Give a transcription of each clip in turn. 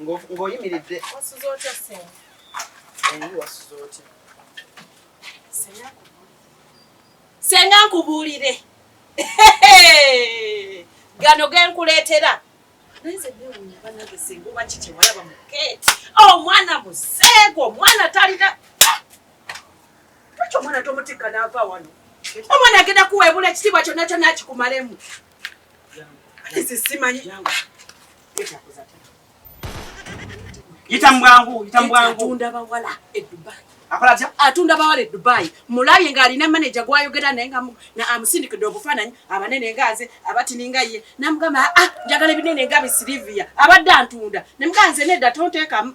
ng'oyimiridde wasuze otya ssenga naye wasuze otya senga nkubuulire gano genkuleetera omwana oh, museego omwana talina ekyo omwana tomutikka naava wano omwana agenda kuweebula ekitiibwa kyonna kyonna akikumalemu nze simanyi Yita mbwangu, yita mbwangu. Atunda bawala e Dubai. Akola atya? Atunda bawala e Dubai. Mulabye nga alina manager gwayogera naye nga na amusindikidde obufaananyi abanene nga nze abatini nga ye. Namugamba ah njagala ebinene nga bi Silvia. Abadde antunda. Ne muganze nedda tonteekamu.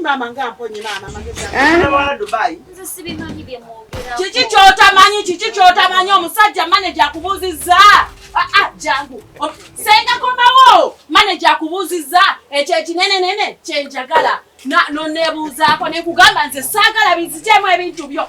Maama nga mponye maama magezi. Eh? Dubai. Nze sibimanyi bye mwogera. Kiki kyotamanyi kiki kyotamanyi omusajja manager akubuuzizza. Ah ah jangu. Senga komawo manager akubuuzizza ekyo ekinene nene kyenjagala. Na no nebuuzaako ne kugamba nze saagala bizijemu ebintu byo.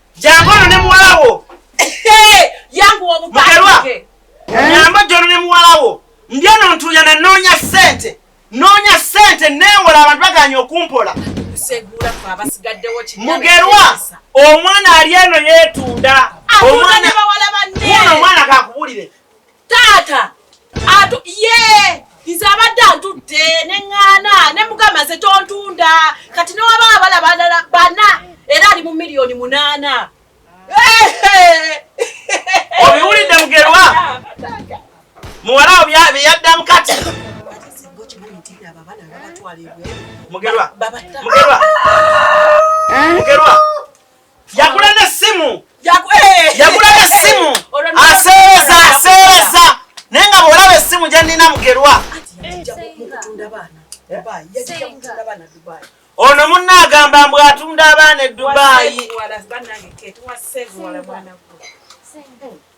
Jangu ono ne muwala wo. Yangu omupange. Nyamba jono ne muwala wo. Mbyano ntuya na nonya sente. Nonya sente newola abantu baganya okumpola. Segura kwa abasigaddewo kinyana. Mugerwa omwana ali eno yetunda. Omwana ne bawala banne. Omwana kakubulire. taata atu ye nze abadde antudde ne ŋŋaana ne mugamba nze tontunda kati newaba abala balala bana era ali mu miliyoni munaana obiwulidde mugerwa muwala wo byeyaddamu kati mugerwa mugerwa mugerwa yagula n'essimu eh! yagula n'essimu aseereza aseereza naye nga bw'olaba essimu gye nnina mugerwa ono munna agamba mbu atunda abaana e dubaayi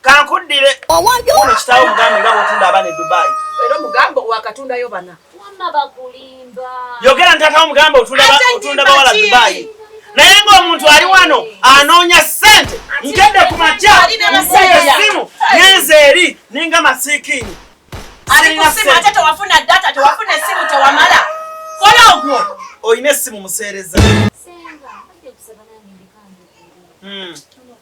kankuddire ono kitaawo mugambe nga bwotunda abaana e dubai era omugambo wakatundayo bana yogera ntata omugambo otunda bawala dubai naye ng'omuntu ali wano anoonya ssente nkedde ku makya nkuba essimu nyenze eri ninga masiikiini olina essimu museereza hmm.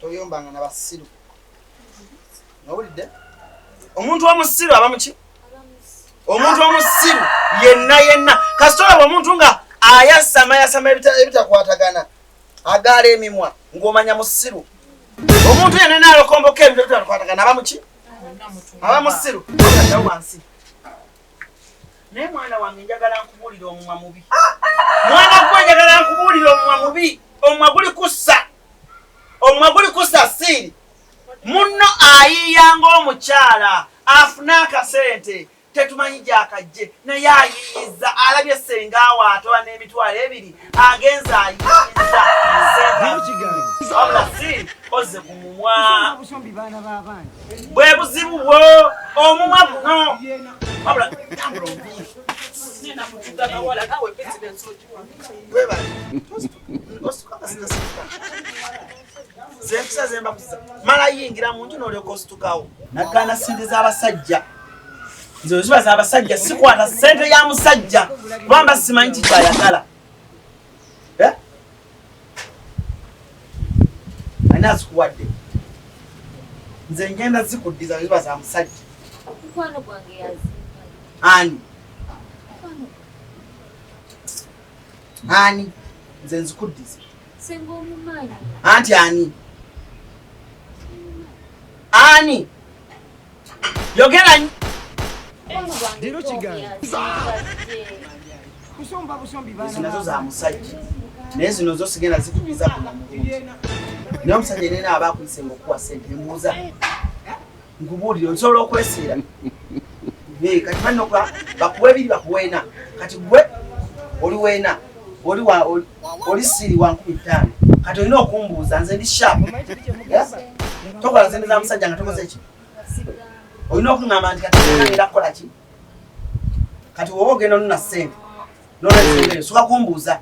toyombanga na basiru nowulidde omuntu omusiru aba muki omuntu omusiru yenna yenna kasita olaba omuntu nga ayasama yasama ebitakwatagana agaala emimwa ng'omanya musiru omuntu yenna naalokomboka ebintu ebitakwatagana aba muki aba musiru ada wansi naye mwana wange njagala nkubuulira omumwa mubi mwana gwe njagala nkubuulira omumwa mubi omumwa guli kussa omumwa guli kusasiiri munno ayiiya ng'omukyala afune akasente tetumanyi gyakajje naye ayiiyiza alabye senga waatoba n'emitwalo ebiri agenza ayiiyiza ozze ku mumwa bwe buzibu bwo omumwa guno wabula tambula omuyi zempisa zembakusa mala yingira munju nolyoka ositukawo nagana sente zabasajja nze oziba zabasajja sikwata sente ya musajja kubamba simanyi kikyayagala eh? ani azikuwadde nze ngenda zikuddiza oziba za musajja ani Ani? Nze nzikuddiza. Senga omumanyi. Anti ani? Ani? Yogera nyo. Dino kiganza. Kusomba busombi bana. Zinazo za musajja. Naye zino zo sigenda zikubiza ku muntu. Naye omusajja yenna aba akuyise ng'okuwa ssente mbuuza. nkubuulire osobola okwesiira eh, kati banoga bakuwa ebiri bakuweena kati gwe oli weena oli siri wa nkumi ttaano kati olina okumbuuza nze ndi shapu tokola nze ndiza musajja nga tokoze ki olina okuŋamba nti kati era kukola ki kati woba ogenda onona ssente nolwensonga soka kumbuuza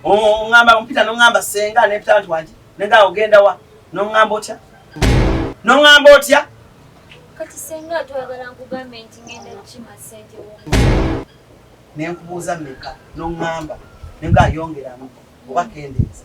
ongamba ompita nongamba senga nepita nti wangi nega ogenda wa nongamba otya nongamba otya kati senga twagala nkugambe nti ngenda kukima sente nenkubuuza meka nongamba nega ayongeramu oba kendeeza